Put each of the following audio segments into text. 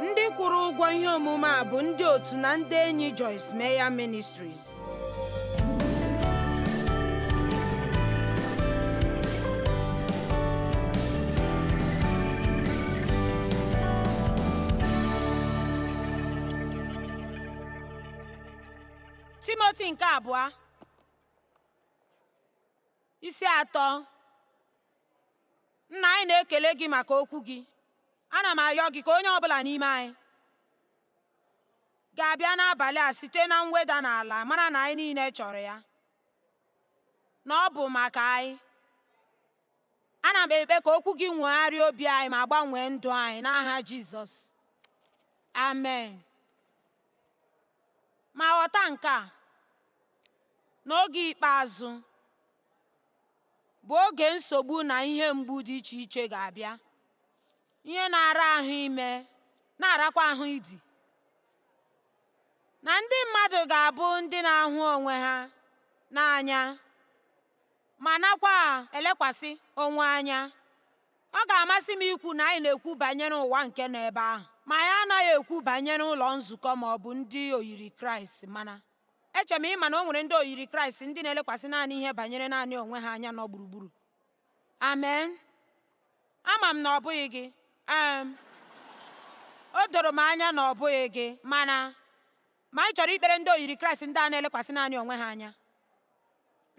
ndị kwụrụ ụgwọ ihe omume a bụ ndị otu na ndị enyi Joyce Meyer Ministries Timoti nke abụọ Isi atọ Nna anyị na-ekele gị maka okwu gị ana m ayọ gị ka onye ọbụla n'ime anyị ga-abịa n'abalị a site na mweda n'ala mara na anyị niile chọrọ ya na ọ bụ maka anyị ana m ekpe ka okwu gị nwegharịa obi anyị ma gbanwee ndụ anyị n'aha Jizọs amen Ma ghọta nke a, na oge ikpeazụ bụ oge nsogbu na ihe mgbu dị iche iche ga-abịa, ihe na-ara ahụ ime na-arakwa ahụ idi, na ndị mmadụ ga-abụ ndị na-ahụ onwe ha n'anya. ma nakwa elekwasị onwe anya. Ọ ga-amasị m ikwu na anyị na-ekwu banyere ụwa nke nọ ebe ahụ, ma anyị anaghị ekwu banyere ụlọ nzukọ ma ọ bụ ndị oyiri Kraịst mana eche m ị ma na o nwere ndị oyiri Kraịst ndị na-elekwasị naanị ihe banyere naanị onwe ha anya nọ gburugburu. Amen. Ama m na ọ bụghị gị. Um, o doro m anya na ọ bụghị gị mana Ma anyị chọrọ ikpere ndị oyiri Kraịst ndị a na-elekwasị naanị onwe ha anya.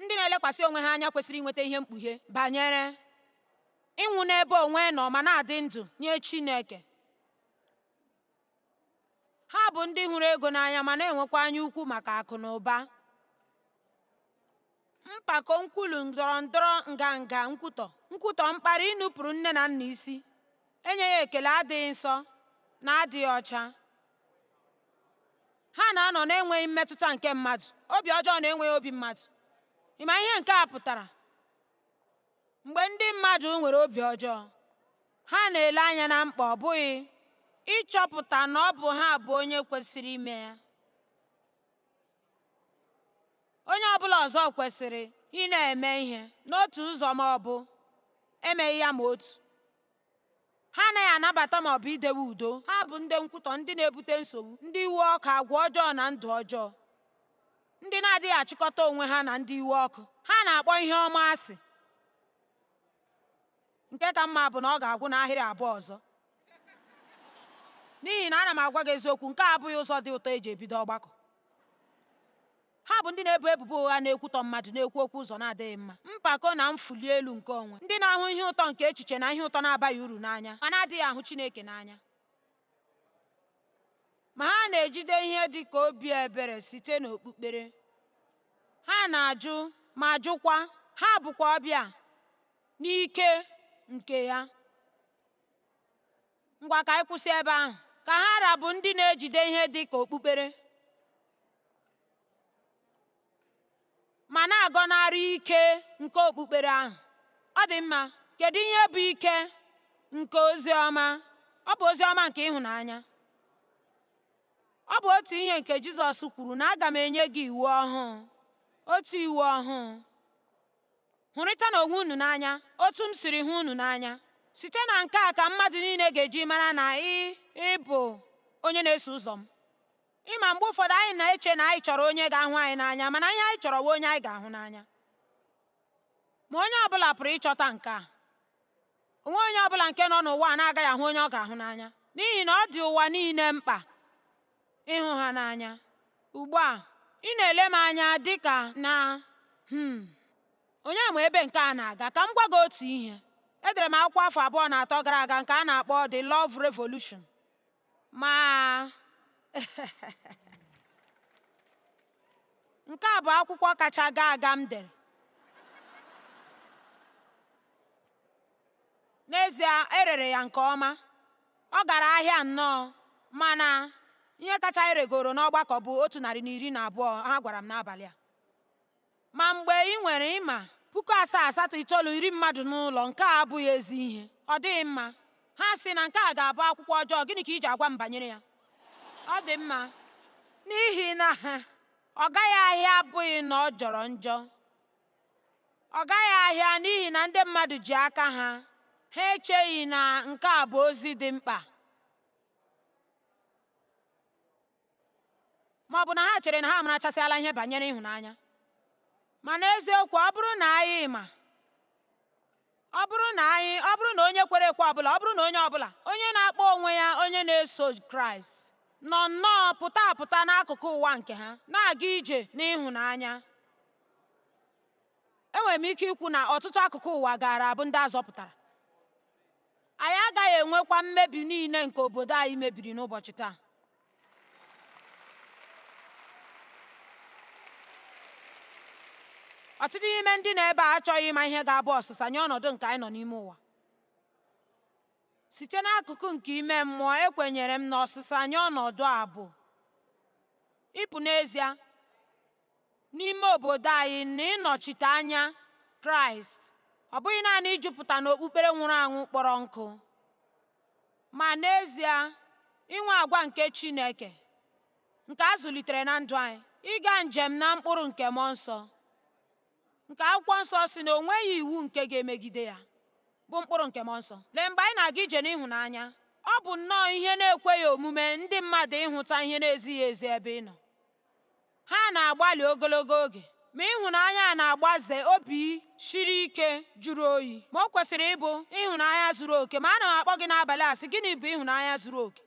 Ndị na-elekwasị onwe ha anya kwesịrị inweta ihe mkpughe banyere ịnwụ n'ebe onwe nọ ma na-adị ndụ nye Chineke. Ha bụ ndị hụrụ ego n'anya ma na-enwekwa anya ukwu maka akụ na ụba. mpako nkwulu ndọrọ ndọrọ nganga nkwutọ nkwutọ mkparị inupụrụ nne na nna isi enyeghị ekele adịghị nsọ na adịghị ọcha ha na-anọ na-enweghị mmetụta nke mmadụ obi ọjọọ na enweghị obi mmadụ ị ma ihe nke a pụtara mgbe ndị mmadụ nwere obi ọjọọ ha na-ele anya na mkpa ọ bụghị ịchọpụta na ọ bụ ha bụ onye kwesịrị ime ya onye ọbụla ọzọ kwesịrị ịna-eme ihe n'otu ụzọ ma ọ bụ emeghị ya ma otu ha anaghị anabata ma ọ bụ idewe udo ha bụ ndị nkwutọ ndị na-ebute nsogbu ndị iwe ọkụ agwa ọjọọ na ndụ ọjọọ ndị na-adịghị achịkọta onwe ha na ndị iwe ọkụ ha na-akpọ ihe ọma asị Nke ka mma bụ na ọ ga-agwụ n'ahịrị abụọ ọzọ. N'ihi na ana m agwa gị eziokwu, nke a abụghị ụzọ dị ụtọ e ji ebido ọgbakọ. Ha bụ ndị na-ebo ebubo ụgha na-ekwutọ mmadụ, na-ekwu okwu ụzọ na-adịghị mma, mpako na mfuli elu nke onwe, ndị na-ahụ ihe ụtọ nke echiche na ihe ụtọ na-abaghị uru n'anya, ma na-adịghị ahụ Chineke n'anya. Ma ha na-ejide ihe dị ka obi ebere site n'okpukpere. Ha na-ajụ ma jụkwa, ha bụkwa ọbịa n'ike nke ya. Ngwa ka anyị kwụsị ebe ahụ. Ka ha ra bụ ndị na-ejide ihe dị ka okpukpere. ma na-agọnarị ike nke okpukpere ahụ. Ọ dị mma, kedu ihe bụ ike nke ozi ọma? Ọ bụ ozi ọma nke ịhụnanya. Ọ bụ otu ihe nke Jizọs kwuru na aga m enye gị iwu ọhụụ, otu iwu ọhụụ. Hụrịtanụ onwe unu n'anya otu m siri hụ unu n'anya. Site na nke a ka mmadụ niile ga-eji mara na ị bụ onye na-eso ụzọ m. Ị ma mgbe ụfọdụ anyị na-eche na anyị chọrọ onye ga-ahụ anyị n'anya mana ihe anyị chọrọ bụ onye anyị ga-ahụ n'anya ma onye ọ bụla pụrụ ịchọta nke a o nwee onye ọ bụla nke nọ n'ụwa na-agaghị ahụ onye ọ ga-ahụ n'anya n'ihi na ọ dị ụwa niile mkpa ịhụ ha n'anya ugbu a ị na-ele m anya dị ka na hmm, onye ma ebe nke a na-aga ka m gwa gị otu ihe edere m akwụkwọ afọ abụọ na atọ gara aga nke a na-akpọ The Love Revolution Ma, nke a bụ akwụkwọ kacha gaa aga m dere. N'ezie, e rere ya nke ọma, ọ gara ahịa nnọọ, mana ihe kacha e regoro n'ọgbakọ bụ otu narị na iri na abụọ ha gwara m n'abalị a. Ma mgbe i nwere ị ma puku asaa asatọ itoolu iri mmadụ n'ụlọ, nke a abụghị ezi ihe. Ọ dịghị mma. Ha sị na nke a ga-abụ akwụkwọ ọjọọ, gịnị ka i ji agwa m banyere ya? Ọ dị mma. N'ihi na ha ọ gaghị ahịa abụghị na ọ jọrọ njọ. Ọ gaghị ahịa n'ihi na ndị mmadụ ji aka ha, ha echeghị na nke a bụ ozi dị mkpa. ma ọ bụ na ha chere na ha amarachasịala ihe banyere ịhụnanya ma n'eziokwu ọ bụrụ na anyị ma ọ bụrụ na anyị ọ bụrụ na onye kwere ekwe ọbụla ọ bụrụ na onye ọbụla onye na-akpọ onwe ya onye na-eso kraịst nọ nnọọ pụta apụta n'akụkụ ụwa nke ha na-aga ije n'ịhụnanya enwere m ike ikwu na ọtụtụ akụkụ ụwa gaara abụ ndị a zọpụtara Anyị agaghị enwekwa mmebi niile nke obodo anyị mebiri n'ụbọchị taa. Ọtụtụ n'ime ndị nọ ebe a achọghị ịma ihe ga-abụ ọsịsa nye ọnọdụ nke anyị nọ n'ime ụwa. Site n'akụkụ nke ime mmụọ, ekwenyere m na ọsịsa nye ọnọdụ a bụ ịpụ n'ezie n'ime obodo anyị na ịnọchite anya Kraịst, ọ bụghị naanị ijupụta n'okpukpere nwụrụ anwụ kpọrọ nkụ, ma n'ezie inwe agwa nke Chineke nke a zụlitere na ndụ anyị, ịga njem na mkpụrụ nke mmụọ nsọ, nke akwụkwọ nsọ sị na o nweghị iwu nke ga-emegide ya, bụ mkpụrụ nke mmụọ nsọ. Lee, mgbe anyị na-aga ije n'ịhụnanya, ọ bụ nnọọ ihe na-ekweghị omume ndị mmadụ ịhụta ihe na-ezighị ezi ebe ị nọ. Ha na-agbalị ogologo oge, ma ịhụnanya a na-agbaze obi siri ike jụrụ oyi. Ma o kwesịrị ịbụ ịhụnanya zuru oke. Ma ana m akpọ gị n'abalị a sị, gịnị bụ ịhụnanya zuru oke?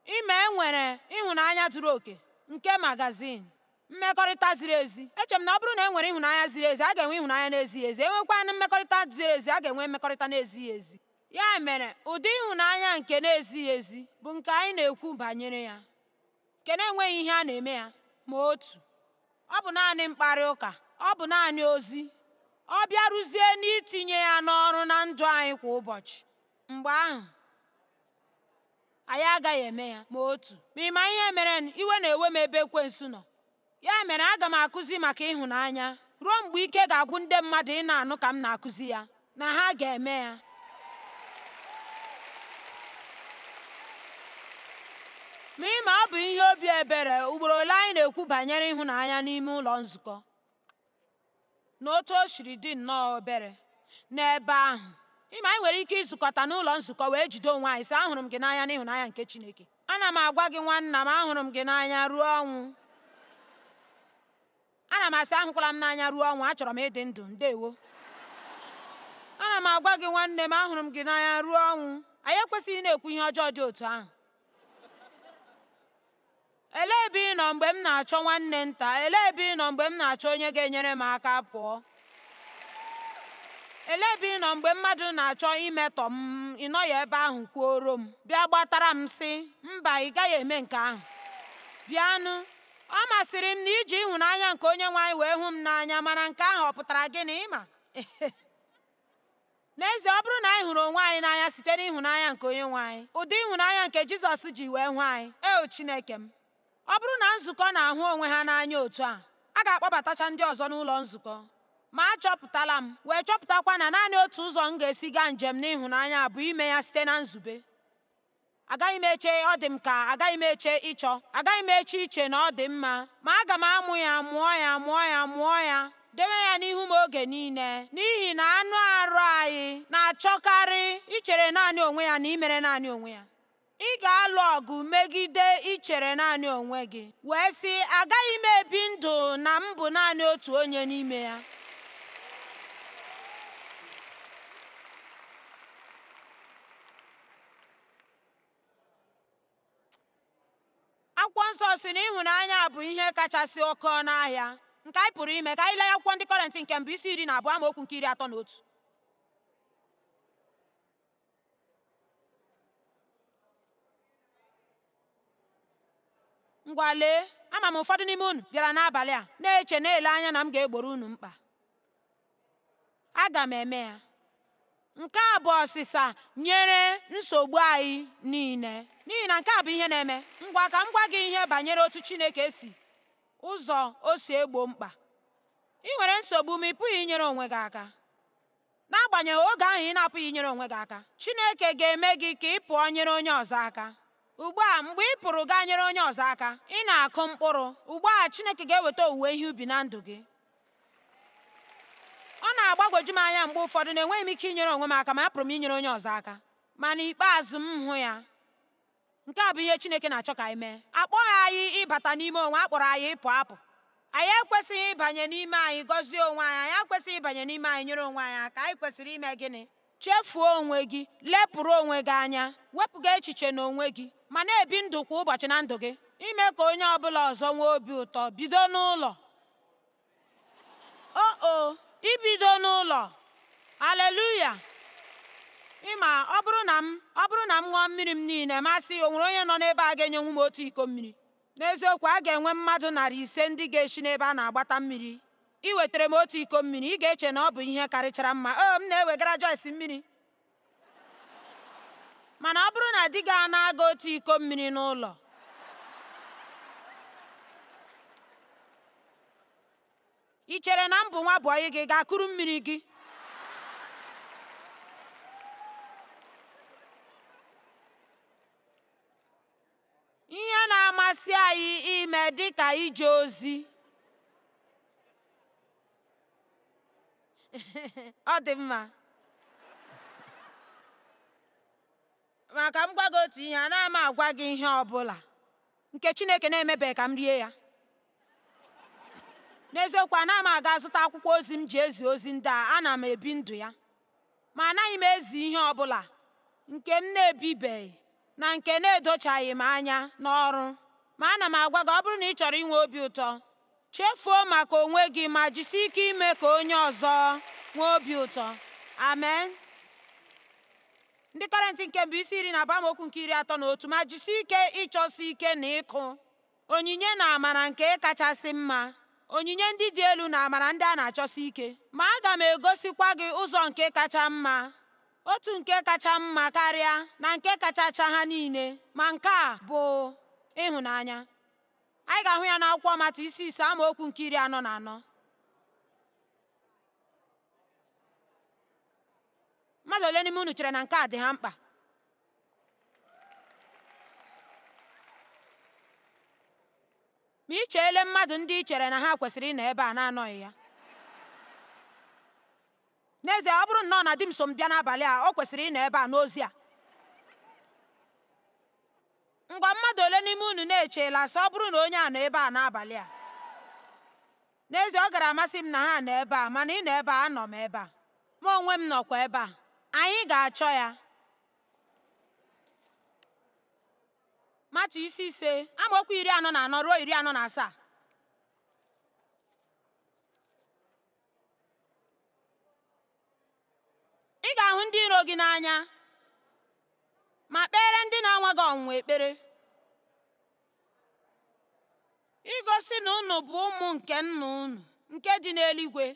Ị ma e nwere ịhụnanya zuru oke nke magazin mmekọrịta ziri ezi? Eche m na ọ bụrụ na e nwere ịhụnanya ziri ezi, a ga-enwe ịhụnanya na-ezighị ezi. E nwekwanụ mmekọrịta ziri ezi, a ga-enwe mmekọrịta na-ezighị ezi. Ya mere, ụdị ịhụnanya nke na-ezighị ezi bụ nke anyị na-ekwu banyere ya. nke na-enweghị ihe a na-eme ya ma otu ọ bụ naanị mkparị ụka ọ bụ naanị ozi ọ bịaruzie n'itinye ya n'ọrụ na ndụ anyị kwa ụbọchị mgbe ahụ anyị agaghị eme ya ma otu ma ị ma ihe mere iwe na-ewe m ebe ekwensu nọ Ya mere, aga m akụzi maka ịhụnanya ruo mgbe ike ga-agwụ ndị mmadụ ịna-anụ ka m na-akụzi ya na ha ga-eme ya. Ma ị ma ọ bụ ihe obi ebere ugboro ole anyị na-ekwu banyere ịhụnanya n'ime ụlọ nzukọ. na otu o siri dị nnọọ obere n'ebe ahụ ị ma anyị nwere ike izukọta n'ụlọ nzukọ wee jide onwe anyị sị ahụrụ m gị n'anya n'ịhụnanya nke Chineke ana m agwa gị nwanna m ahụrụ m gị n'anya ruo ọnwụ ana m asị ahụkwala m n'anya ruo ọnwụ achọrọ m ịdị ndụ ndewo ana m agwa gị nwanne m ahụrụ m gị n'anya ruo ọnwụ anyị ekwesịghị na-ekwu ihe ọjọọ dị otu ahụ Elee ebe ị nọ mgbe m na-achọ nwanne nta? Elee ebe ị nọ mgbe m na-achọ onye ga-enyere m aka pụọ? Elee ebe ị nọ mgbe mmadụ na-achọ imetọ m? Ị nọghị ebe ahụ kwuoro m. Bịa gbatara m sị, Mba, ị gaghị eme nke ahụ. Bịanụ. Ọ masịrị m na i ji ịhụnanya nke onye nwe anyị wee hụ m n'anya, mana nke ahụ ọ pụtara gịnị? Ị ma? n'ezie ọ bụrụ na anyị hụrụ onwe anyị n'anya site n'ịhụnanya nke onye nwe anyị ụdị ịhụnanya nke jizọs ji wee hụ anyị eo chineke m ọ bụrụ na nzukọ na-ahụ onwe ha n'anya otu a a ga-akpọbatacha ndị ọzọ n'ụlọ nzukọ ma achọpụtala m wee chọpụtakwa na naanị otu ụzọ m ga-esi gaa njem n'ịhụnanya bụ ime ya site na nzube Agaghị m eche ọ dị m ka agaghị m eche ịchọ agaghị m eche iche na ọ dị mma ma aga m amụ ya mụọ ya mụọ ya mụọ ya dewe ya n'ihu m oge niile n'ihi na anụ arụ anyị na-achọkarị ichere naanị onwe ya na imere naanị onwe ya ị ga-alụ ọgụ megide ichere naanị onwe gị wee sị agaghị m ebi ndụ na m bụ naanị otu onye n'ime ya akwụkwọ nsọ sị na ịhụnanya bụ ihe kachasị oke ọnụ ahịa nke anyị pụrụ ime ka anyị lee akwụkwọ ndị kọrentị nke mbụ isi iri na abụọ amaokwu nke iri atọ na otu ngwa lee ama m ụfọdụ n'ime unu bịara n'abalị a na-eche na-ele anya na m ga-egboro unu mkpa Aga m eme ya. Nke a bụ ọsịsa nyere nsogbu anyị niile. N'ihi na nke a bụ ihe na-eme. Ngwa ka m gwa gị ihe banyere otu Chineke si ụzọ o si egbo mkpa. Ị nwere nsogbu ma ị pụghị inyere onwe gị aka. N'agbanyeghị oge ahụ ị na-apụghị inyere onwe gị aka, Chineke ga-eme gị ka ị pụọ nyere onye ọzọ aka. Ugbu a, mgbe ị pụrụ gaa nyere onye ọzọ aka, ị na-akụ mkpụrụ. Ugbu a, Chineke ga-eweta owuwe ihe ubi na ndụ gị. ọ na-agbagwoju m anya mgbe ụfọdụ na enweghị m ike inyere onwe m aka ma apụrụ m inyere onye ọzọ aka ma n'ikpeazụ m hụ ya nke a bụ ihe Chineke na-achọ ka anyị mee akpọghị anyị ịbata n'ime onwe a kpọrọ anyị ịpụ apụ anyị ekwesịghị ịbanye n'ime anyị gọzie onwe anyị anyị ekwesịghị ịbanye n'ime anyị nyere onwe anyị aka anyị kwesịrị ime gịnị Chefuo onwe gị, lepụrụ onwe gị anya, wepụga echiche n'onwe gị, ma na-ebi ndụ kwa ụbọchị na ndụ gị. Ime ka onye ọ bụla ọzọ nwee obi ụtọ, bido n'ụlọ. O o, ibido n'ụlọ! Aleluya! Ị ma, ọ bụrụ na m ọ bụrụ na m ṅụọ mmiri m niile, ma sị, o nwere onye nọ n'ebe a ga-enyenwu m otu iko mmiri? N'eziokwu, a ga-enwe mmadụ narị ise ndị ga-esi n'ebe a na-agbata mmiri Iwetara m otu iko mmiri, ị ga-eche na ọ bụ ihe karịchara mma. O, m na-ewegara Joyce mmiri. Mana ọ bụrụ na di gị anaa gị otu iko mmiri n'ụlọ, i chere na m bụ nwa bọyị gị gaa kuru mmiri gị? ihe na-amasị anyị ime dị ka ije ozi ọ dị mma ma ka m gwa gị otu ihe anaghị m agwa gị ihe ọ bụla nke Chineke na-emebeghị ka m rie ya n'eziokwu anaghị m aga zụta akwụkwọ ozi m ji ezi ozi ndị a ana m ebi ndụ ya Ma anaghị m ezi ihe ọ bụla nke m na-ebibeghị na nke na-edochaghị m anya n'ọrụ. Ma ana m agwa gị, ọ bụrụ na ị chọrọ inwe obi ụtọ, chefuo maka onwe gị ma jisie ike ime ka onye ọzọ nwee obi ụtọ. Amen. Ndị Kọrịnt nke mbụ isi iri na abụọ amaokwu nke iri atọ na otu ma jisie ike ịchọsi ike na ịkụ Onyinye na amara nke kachasị mma, onyinye ndị dị elu na amara ndị a na-achọsi ike. Ma aga m egosikwa gị ụzọ nke kacha mma, otu nke kacha mma karịa na nke kachacha ha niile, ma nke a bụ ịhụnanya. Anyị ga-ahụ ya n'akwụkwọ Matiu isi ise amaokwu nke iri anọ na anọ. Mmadụ ole n'ime unu chere na nke a dị ha mkpa? ma i cheele mmadụ ndị i chere na ha kwesịrị ịnọ ebe a na-anọghị ya n'ezie ọ bụrụ nnọọ na di m so m bịa n'abalị a o kwesịrị ịnọ ebe a n'ozi a ngwa mmadụ ole n'ime unu na-echeela sị ọ bụrụ na onye a nọ ebe a n'abalị a N'ezie, ọ gara amasị m na ha nọ ebe a, mana ị nọ ebe a, anọ m ebe a. Mụ onwe m nọkwa ebe a. Anyị ga-achọ ya. Matiu isi ise, amaokwu iri anọ na anọ ruo iri anọ na asaa. Ị ga-ahụ ndị iro gị n'anya ma kpeere ndị na-anwa gị ọnwụnwa ekpere. igosi na unu bụ ụmụ nke nna unu nke dị n'eluigwe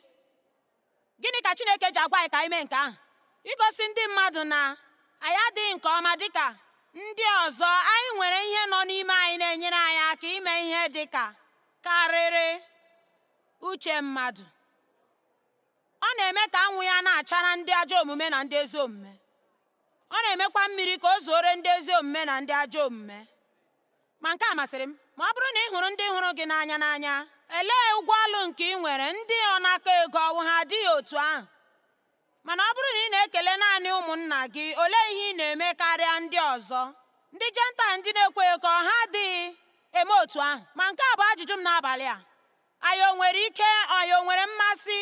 gịnị ka chineke ji agwa anyị ka anyị mee nke ahụ igosi ndị mmadụ na anyị adịghị nke ọma dịka ndị ọzọ anyị nwere ihe nọ n'ime anyị na-enyere anyị aka ime ihe dịka karịrị uche mmadụ ọ na-eme ka anwụ ya na-achara ndị ajọ omume na ndị ezi omume ọ na-emekwa mmiri ka o zuore ndị ezi omume na ndị ajọ omume ma nke a masịrị m ma ọ bụrụ na ị hụrụ ndị hụrụ gị n'anya n'anya elee ụgwọ ọlụ nke ị nwere ndị ọnakọ ego ọ wụ ha adịghị otu ahụ mana ọ bụrụ na ị na-ekele naanị ụmụnna gị olee ihe ị na-eme karịa ndị ọzọ ndị jentaịl ndị na-ekweghị ekwe ha adịghị eme otu ahụ ma nke a bụ ajụjụ m n'abalị a anyị o nwere ike anyị o nwere mmasị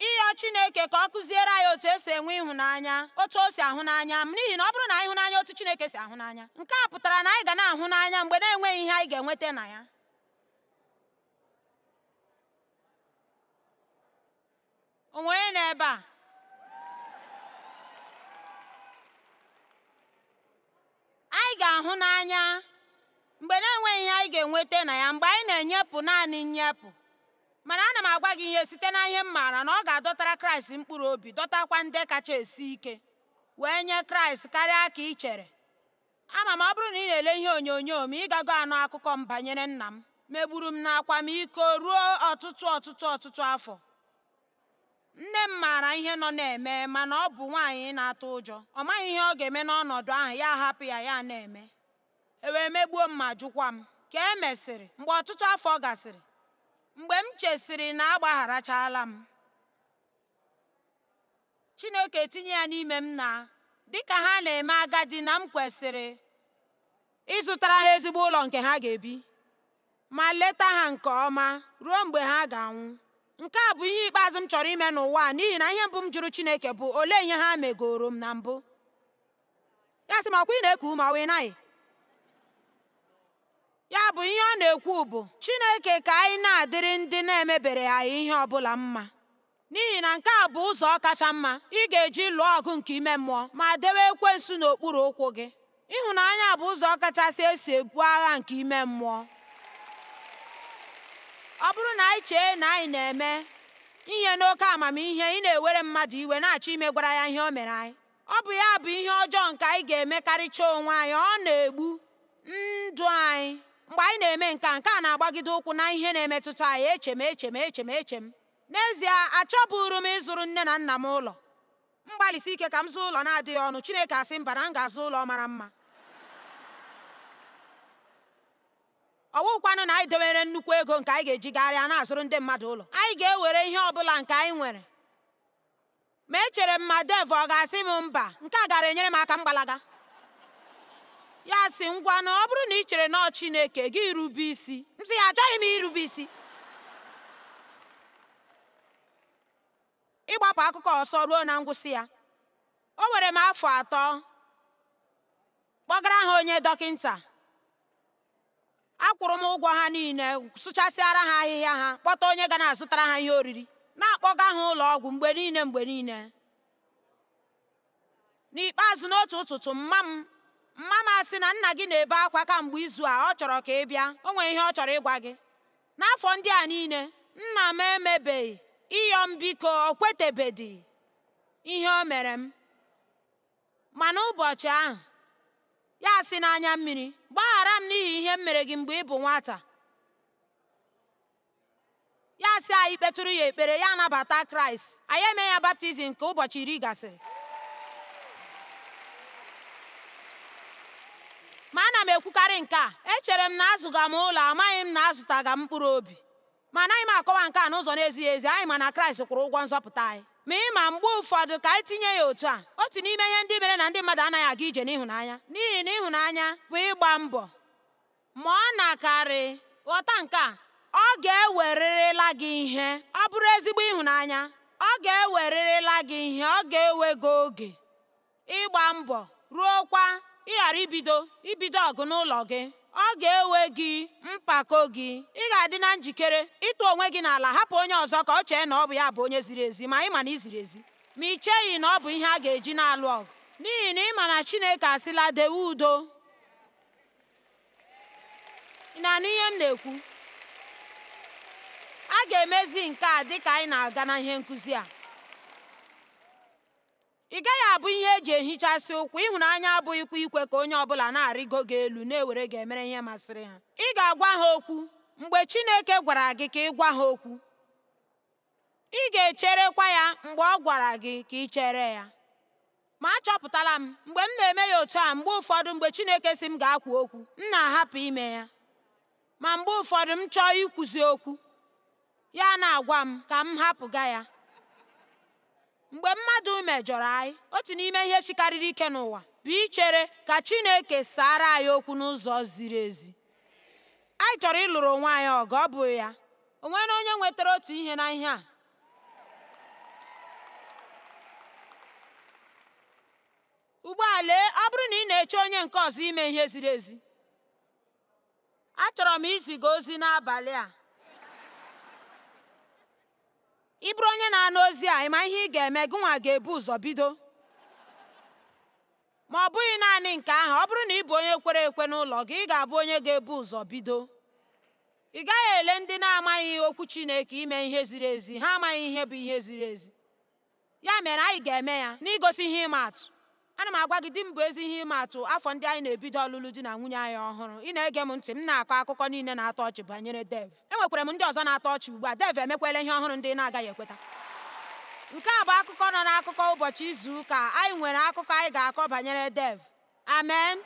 Ịyọ Chineke ka ọ kụziere anyị otu esi enwe ịhụnanya, otu o si ahụ n'anya, n'ihi na ọ bụrụ na anyị hụ n'anya otu Chineke si ahụ n'anya, nke a pụtara na anyị ga na-ahụ n'anya mgbe na-enweghị ihe anyị ga-enweta na ya. O nwere onye nọ ebe a? Anyị ga-ahụ n'anya mgbe na-enweghị ihe anyị ga-enweta na ya mgbe anyị na-enyepụ naanị nnyepụ. Mana ana m agwa gị ihe site na ihe m maara na ọ ga-adọtara Kraịst mkpụrụ obi dọtakwa ndị kacha esi ike wee nye Kraịst karịa ka i chere. Ama m ọ bụrụ na ị na-ele ihe onyonyo m, ị gago anụ akụkọ m banyere nna m megburu m n'akwamiko ruo ọtụtụ ọtụtụ ọtụtụ afọ. Nne m maara ihe nọ na-eme mana ọ bụ nwaanyị na-atụ ụjọ. Ọ maghị ihe ọ ga-eme n'ọnọdụ ahụ ya ahapụ ya ya na-eme. e wee megbuo m ma jụkwa m. Ka e mesịrị, mgbe ọtụtụ afọ gasịrị, mgbe m chesịrị na agbagharachala m, Chineke etinye ya n'ime m na dị ka ha na-eme agadi na m kwesịrị ịzụtara ha ezigbo ụlọ nke ha ga-ebi ma leta ha nke ọma ruo mgbe ha ga-anwụ. Nke a bụ ihe ikpeazụ m chọrọ ime n'ụwa a n'ihi na ihe mbụ m jụrụ Chineke bụ olee ihe ha megoro m na mbụ. ya sị m ọ kwa ị na-eku ume ọ wụ ị naghị ya bụ ihe ọ na-ekwu bụ Chineke ka anyị na-adịrị ndị na-emebere anyị ihe ọ bụla mma n'ihi na nke a bụ ụzọ kacha mma ị ga-eji lụọ ọgụ nke ime mmụọ ma dewe ekwensu n'okpuru ụkwụ gị ịhụnanya bụ ụzọ kachasị esi ebu agha nke ime mmụọ ọ bụrụ na anyị chee na anyị na-eme ihe n'oke amamihe ị na-ewere mmadụ iwe na-achọ imegwara ya ihe o mere anyị Ọ bụ ya bụ ihe ọjọọ nke anyị ga-emekarịcha onwe anyị, ọ na-egbu ndụ anyị. Mgbe anyị na-eme nke a, nke a na-agbagide ụkwụ na ihe na-emetụta anyị, eche m, eche m, eche m, eche m. N'ezie, achọburu m ịzụrụ nne na nna m ụlọ. M gbalịsi ike ka m zụọ ụlọ na-adịghị ọnụ, Chineke asị mba na m ga-azụ ụlọ mara mma. ọ wụkwanụ na anyị dewere nnukwu ego nke anyị ga-eji gagharịa na-azụrụ ndị mmadụ ụlọ anyị ga-ewere ihe ọ bụla nke anyị nwere Ma echere m ma Dave ọ ga-asị m mba, nke a gaara enyere m aka m gbalaga. Ya asị, Ngwanụ, ọ bụrụ na i chere na ọ Chineke, gị rube isi. M sị ya, Achọghị m irube isi. Ịgbapụ akụkọ ọsọ ruo na ngwụsị ya, o were m afọ atọ kpọgara ha onye dọkịnta. akwụrụ m ụgwọ ha niile sụchasịara ha ahịhịa ha kpọta onye ga na-azụtara ha ihe oriri na-akpọga ha ụlọ ọgwụ mgbe niile mgbe niile n'ikpeazụ n'otu ụtụtụ mma m mma m asị na nna gị na-ebe akwa kamgbe izu a ọ chọrọ ka ị bịa o nwere ihe ọ chọrọ ịgwa gị n'afọ ndị a niile nna m emebeghị ịyọ m biko o kwetebedị ihe o mere m Ma n'ụbọchị ahụ, ya asị n'anya mmiri, Gbaghara m n'ihi ihe m mere gị mgbe ị bụ nwata. Ya sị anyị kpetụrụ ya ekpere, ya anabata Kraịst, anyị eme ya baptizim ka ụbọchị iri gasịrị. ma ana m ekwukarị nke a echere m na azụga m ụlọ amaghị m na azụtaga m mkpụrụ obi Ma anaghị m akọwa nke a n'ụzọ na-ezighị ezi, anyị ma na Kraịst kwụrụ ụgwọ nzọpụta anyị. Ma ị ma, mgbe ụfọdụ, ka anyị tinye ya otu a, otu n'ime ihe ndị mere na ndị mmadụ anaghị aga ije n'ịhụnanya, n'ihi na ịhụnanya bụ ịgba mbọ. Ma ọ na-akarị. Ghọta nke a, ọ ga-ewerịrịla gị ihe. Ọ bụrụ ezigbo ịhụnanya, ọ ga-ewerịrịla gị ihe, ọ ga-ewe gị oge. ịgba mbọ ruokwa ịghara ibido ibido ọgụ n'ụlọ gị ọ ga-ewe gị mpako gị ị ga-adị na njikere ịtụ onwe gị n'ala hapụ onye ọzọ ka o chee na ọ bụ ya bụ onye ziri ezi ma ị ma na i ziri ezi ma i cheghị na ọ bụ ihe a ga-eji na-alụ ọgụ n'ihi na ị ma na Chineke asịla dewe udo ị na-anụ ihe m na-ekwu a ga-emezi nke a dịka anyị na-aga na ihe nkuzi a Ị gaghị abụ ihe e ji ehichasị ụkwụ, ịhụnanya abụghịkwa ikwe ka onye ọ bụla na-arịgo gị elu na-ewere gị emere ihe masịrị ha. Ị ga-agwa ha okwu mgbe Chineke gwara gị ka ị gwa ha okwu. Ị ga-echerekwa ya mgbe ọ gwara gị ka i chere ya. Ma achọpụtala m, mgbe m na-eme ya otu a, mgbe ụfọdụ mgbe Chineke sị m gaa kwuo okwu, m na-ahapụ ime ya. ma mgbe ụfọdụ m chọọ ikwuzi okwu ya na-agwa m ka m hapụga ya mgbe mmadụ mejọrọ anyị otu n'ime ihe sikarịrị ike n'ụwa bụ ichere ka Chineke saara anyị okwu n'ụzọ ziri ezi anyị chọrọ ịlụrụ onwe anyị ọgụ ọ bụghị ya o nwere onye nwetara otu ihe na ihe a ugbu a lee ọ bụrụ na ị na-eche onye nke ọzọ ime ihe ziri ezi Achọrọ m iziga ozi n'abalị a. Ị bụrụ onye na-anụ ozi a, ị ma ihe ị ga-eme, gị nwa ga-ebu ụzọ bido. Ma ọ bụghị naanị nke ahụ, ọ bụrụ na ị bụ onye kwere ekwe n'ụlọ gị, ị ga-abụ onye ga-ebu ụzọ bido. Ị gaghị ele ndị na-amaghị Okwu Chineke ime ihe ziri ezi, ha amaghị ihe bụ ihe ziri ezi. Ya mere, anyị ga-eme ya n'igosi ihe ịma atụ. Ana m agwa gị, di m bụ ezi ihe ịma atụ afọ ndị anyị na-ebido ọlụlụ di na nwunye anyị ọhụrụ. Ị na-ege m ntị? M na-akọ akụkọ niile na-atọ ọchị banyere Dev. Enwekwara m ndị ọzọ na-atọ ọchị ugbu a. Dev emekwala ihe ọhụrụ ndị ị na-agaghị ekweta. Nke a bụ akụkọ nọ n'akụkọ ụbọchị izu ụka. Anyị nwere akụkọ anyị ga-akọ banyere Dev. Amen.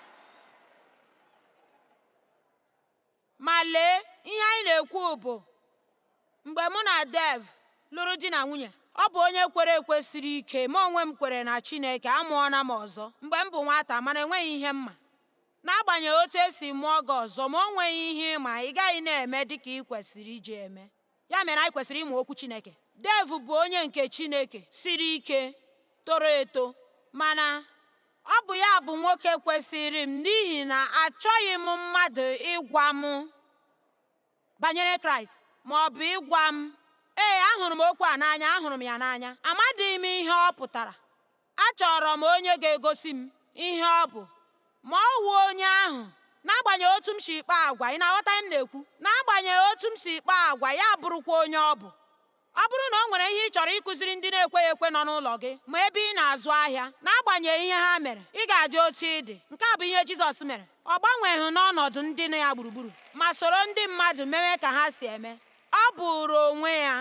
Ma lee, ihe anyị na-ekwu bụ, mgbe mụ na Dev lụrụ di na nwunye, ọ bụ onye kwere ekwe siri ike, m onwe m kwere na Chineke, amụọna m ọzọ mgbe m bụ nwata mana enweghị ihe m ma. N'agbanyeghị otu e si mụọ gị ọzọ, ma o nweghị ihe ị ma, ị gaghị na-eme dịka ị kwesịrị iji eme. ya mere anyị kwesịrị ịmụ okwu Chineke Dev bụ onye nke Chineke siri ike toro eto mana ọ bụ ya bụ nwoke kwesịrị m n'ihi na achọghị m mmadụ ịgwa m banyere Kraịst ma ọ bụ ịgwa m ee ahụrụ m okwu a n'anya ahụrụ m ya n'anya amadịghị m ihe ọ pụtara Achọrọ m onye ga-egosi m ihe ọ bụ, ma ọ wụ onye ahụ n'agbanyeghị otu m si kpaa agwa ị na-aghọta ihe m na-ekwu n'agbanyeghị otu m si kpaa agwa ya abụrụkwa onye ọ bụ ọ bụrụ na o nwere ihe ị chọrọ ịkụziri ndị na-ekweghị ekwe nọ n'ụlọ gị ma ebe ị na-azụ ahịa n'agbanyeghị ihe ha mere ị ga-adị otu ị dị nke a bụ ihe Jizọs mere ọ gbanweghị n'ọnọdụ ndị nọ ya gburugburu ma soro ndị mmadụ mewe ka ha si eme ọ bụụrụ onwe ya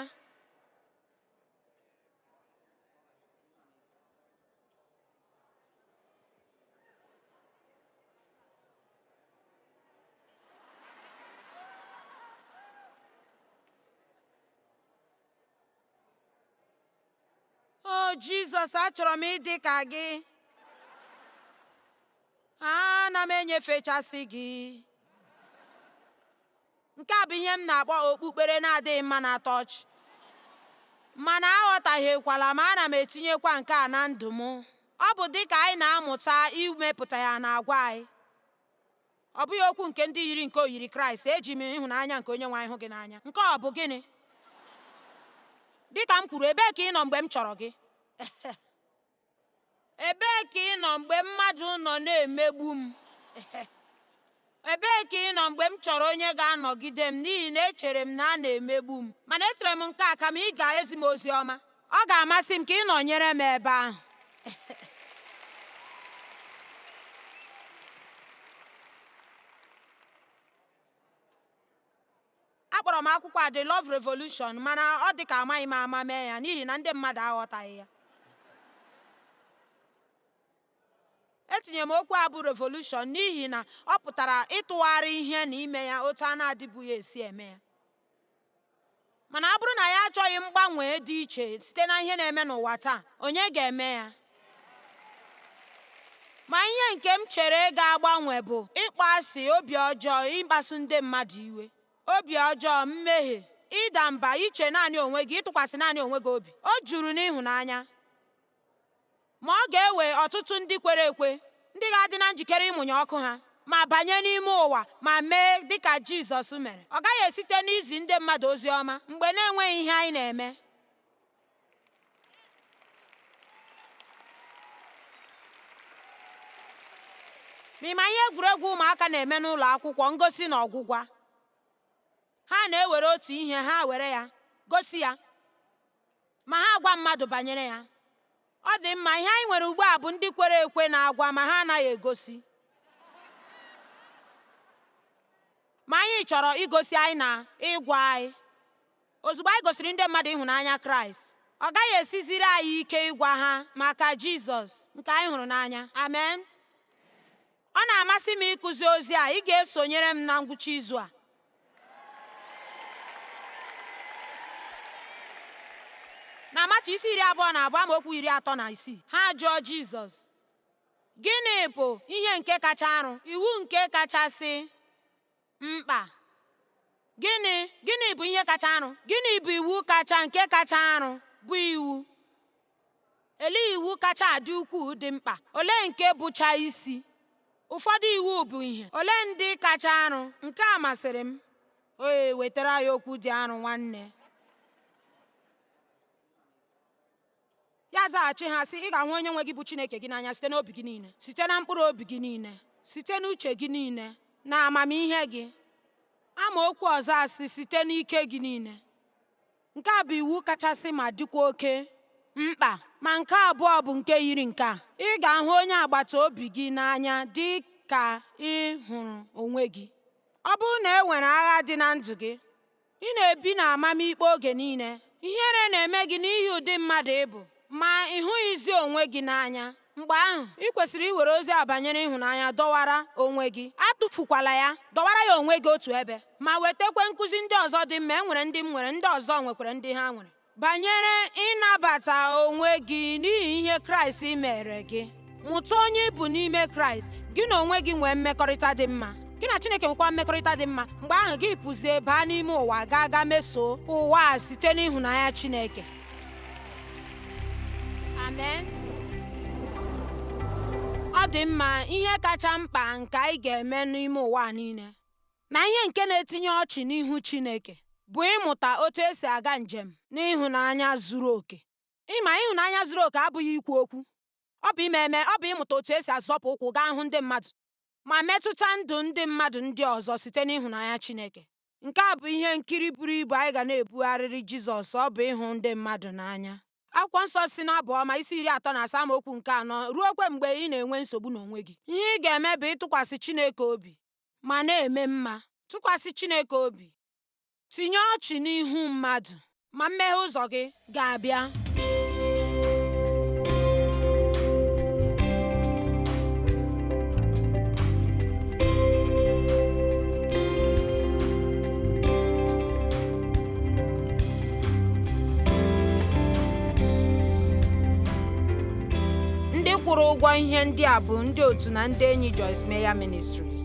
jizọs achọrọ m ịdị ka gị ana m enyefechasị gị Nke a bụ ihe m na-akpọ okpukpere na-adịghị mma na-atọ ọchị. Mana aghọtahiekwala m, ana m etinyekwa nke a na ndụ m. Ọ bụ dị ka anyị na-amụta imepụta ya n'agwa anyị. Ọ bụghị okwu nke ndị yiri nke oyiri Kraịst, eji m ịhụnanya nke Onyenwe anyị hụ gị n'anya. Nke ọ bụ gịnị? Dị ka m kwuru, ebee ka ị nọ mgbe m chọrọ gị? Ebee ka ị nọ mgbe mmadụ nọ na-emegbu m? Ebee ka ị nọ mgbe m chọrọ onye ga-anọgide m n'ihi na echere m na a na-emegbu m? Mana echere m nke a kama ị ga-ezi m ozi ọma. Ọ ga-amasị m ka ị nọnyere m ebe ahụ. Akpọrọ m akwụkwọ a The Love Revolution mana ọ dị ka amaghị m ama mee ya n'ihi na ndị mmadụ aghọtaghị ya. Etinyere m okwu a bụ revolushọn n'ihi na ọ pụtara ịtụgharị ihe na ime ya otu a na-adịbughị esi eme ya. Mana ọ bụrụ na ya achọghị mgbanwe dị iche site na ihe na-eme n'ụwa taa, onye ga-eme ya? Ma ihe nke m chere ga-agbanwe bụ ịkpọ asị, obi ọjọọ, ịkpasu ndị mmadụ iwe, obi ọjọọ, mmehie, ịda mba, iche naanị onwe gị, ịtụkwasị naanị onwe gị obi. O juru n'ịhụnanya. Ma ọ ga-ewe ọtụtụ ndị kwere ekwe ndị ga-adị na njikere ịmụnye ọkụ ha ma banye n'ime ụwa ma mee dị ka Jizọs mere. Ọ gaghị esite n'izi ndị mmadụ ozi ọma mgbe na-enweghị ihe anyị na-eme. ma ị ma ihe egwuregwu ụmụaka na-eme n'ụlọ akwụkwọ ngosi na ọgwụgwa ha na-ewere otu ihe ha were ya gosi ya ma ha agwa mmadụ banyere ya ọ dị mma ihe anyị nwere ugbu a bụ ndị kwere ekwe na-agwa ma ha anaghị egosi ma anyị chọrọ igosi anyị na ịgwa anyị Ozugbo anyị gosiri ndị mmadụ ịhụnanya Kraịst, ọ gaghị esiziri anyị ike ịgwa ha maka Jizọs nke anyị hụrụ n'anya. Amen. Ọ na-amasị m ịkụzi ozi a, ị ga-esonyere m na ngwụcha izu a? na Matiu isi iri abụọ na abụọ amaokwu iri atọ na isii ha ajụọ Jizọs gịnị bụ ihe nke kacha arụ iwu nke kachasị mkpa gịnị gịnị bụ ihe kacha arụ gịnị bụ iwu kacha nke kacha arụ bụ iwu olee iwu kacha adị ukwuu dị mkpa olee nke bụcha isi ụfọdụ iwu bụ ihe olee ndị kacha arụ nke a masịrị m oye wetara ya okwu dị arụ nwanne Ya azaghachi ha sị, Ị ga-ahụ onye nwe gị bụ Chineke gị n'anya site n'obi gị niile, site na mkpụrụ obi gị niile, site n'uche gị niile, na amamihe gị. Amaokwu ọzọ asị, site n'ike gị niile. Nke a bụ iwu kachasị ma dịkwa oke mkpa. Ma nke abụọ bụ nke yiri nke a, ị ga-ahụ onye agbata obi gị n'anya dị ka ị hụrụ onwe gị. Ọ bụrụ na e nwere agha dị na ndụ gị, Ị na-ebi n'amamikpe oge niile. Ihere na-eme gị n'ihi ụdị mmadụ ị bụ, ma ị hụghịzi onwe gị n'anya. Mgbe ahụ, ị kwesịrị iwere ozi a banyere ịhụnanya dọwara onwe gị. Atụfukwala ya. Dọwara ya onwe gị otu ebe, ma wetakwa nkụzi ndị ọzọ dị mma. E nwere ndị m nwere, ndị ọzọ nwekwara ndị ha nwere. banyere ịnabata onwe gị n'ihi ihe Kraịst meere gị mụta onye ị bụ n'ime Kraịst gị na onwe gị nwee mmekọrịta dị mma gị na Chineke nwekwa mmekọrịta dị mma mgbe ahụ gị pụzie baa n'ime ụwa gaa gaa mesoo ụwa a site n'ịhụnanya Chineke amen ọ dị mma ihe kacha mkpa nke anyị ga-eme n'ime ụwa niile na ihe nke na-etinye ọchị n'ihu Chineke bụ ịmụta otu esi aga njem n'ịhụnanya zuru oke. Ịma ịhụnanya zuru oke abụghị ikwu okwu, ọ bụ ime eme, ọ bụ ịmụta otu esi azọpụ ụkwụ gaa hụ ndị mmadụ ma metụta ndụ ndị mmadụ ndị ọzọ site n'ịhụnanya Chineke. Nke a bụ ihe nkiri buru ibu anyị ga na-ebugharịrị Jizọs, ọ bụ ịhụ ndị mmadụ n'anya. Akwụkwọ nsọ sị n'Abụ Ọma isi iri atọ na asaa amaokwu nke anọ ruokwa mgbe ị na-enwe nsogbu n'onwe gị, ihe ị ga-eme bụ ịtụkwasị Chineke obi ma na-eme mma, tụkwasị Chineke obi, tinye ọchị n'ihu mmadụ, ma mmeghe ụzọ gị ga-abịa. Ndị kwụrụ ụgwọ ihe ndị a bụ ndị otu na ndị enyi Joyce Meyer Ministries.